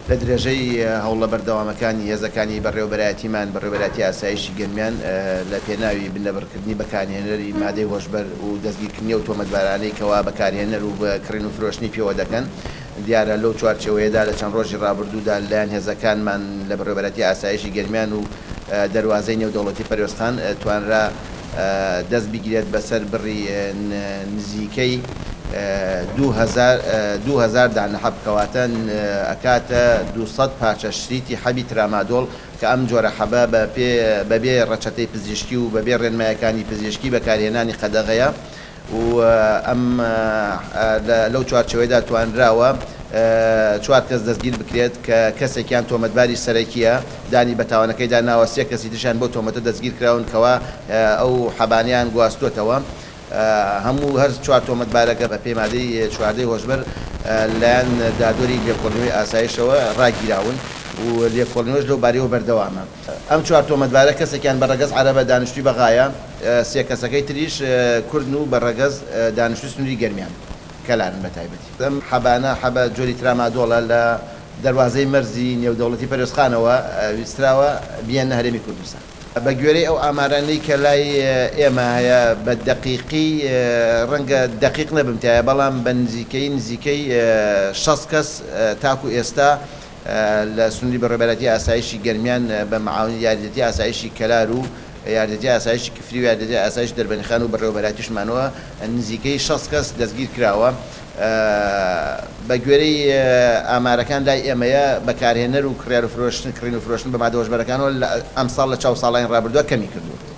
لە درێژەی هەوڵە بەردەوامەکانی هێزەکانی بەڕێوەبەرایەتیمان، بەڕێوەبەرایەتی ئاسایشی گەرمیان لە پێناوی بنەبڕکردنی بەکانهێنەری مادەی هۆشبەر و دەستگیرکردنی ئەو تۆمەتبارانەی کەوا بەکارهێنەر و کڕین و فرۆشتنی پێوە دەکەن دیارە لەو چوارچێوەیەدا لە چەند ڕۆژی ڕابردوودا لەلایەن هێزەکانمان لە بەڕێوەبەرایەتی ئاسایشی گەرمیان و دەروازەی نێودەوڵەتی پەروێزخان توانرا دەست بگرێت بەسەر بڕی نزیکەی دوو هەزار دانە حەب کەواتە ئەکاتە دوو سەد پارچە شریتی حەبی ترامادۆڵ کە ئەم جۆرە حەبە بەبێ ڕەچەتەی پزیشکی و بەبێ ڕێنمایەکانی پزیشکی بەکارهێنانی قەدەغەیە و ئەم لەو چوارچێوەیەدا توانراوە چوار کەس دەستگیر بکرێت کە کەسێکیان تۆمەتباری سەرەکییە دانی بە تاوانەکەیدا ناوە، سێ کەسی تریشیان بەو تۆمەتە دەستگیر کراون کەوا ئەو حەبانەیان گواستووەتەوە. هەموو هەر چوار تۆمەتبارەکە بە پێی مادەی چواردە ی هۆشبەر لە لایەن دادوەری لێکۆڵینەوەی ئاسایشەوە ڕاگیراون و لێکۆڵینەوەش لەو بارەیەوە بەردەوامە. ئەم چوار تۆمەتبارە کەسێکیان بە رەگەز عەرەبە دانیشتووی بەغایە، سێ کەسەکەی تریش کوردن و بە رەگەز دانیشتووی سنووری گەرمیان کەلارن بە تایبەتی. ئەم حەبانە، حەبە جۆری ترامادۆڵە، لە دەروازەی مەرزی نێودەوڵەتی پەروێزخانەوە ویستراوە بیێننە هەرێمی کوردستان. بە گوێرەی ئەو ئامارانەی کە لای ئێمە هەیە بە دەقیقی، رەنگە دەقیق نەبم تایە، بەڵام بە نزیکەیی نزیکەی شەست کەس تاکو ئێستا لە سنووری بەڕێوبەرایەتی ئاسایشی گەرمیان بە معاونی یاریدەتی ئاسایشی کەلار و یاریدەتی ئاسایشی کفری و یاریدەتی ئاسایشی دەربەندیخان و بەڕێوەبەرایەتی شمانەوە نزیکەی شەست کەس دەستگیر کراوە بە گوێرەی ئامارەکان لای ئێمەیە بەکارهێنەر و کڕیار و فرۆشتن کڕین و فرۆشتن بە مادە هۆشبەرەکانەوە ئەمساڵ لە چاو ساڵانی ڕابردووە کەمی کردووە.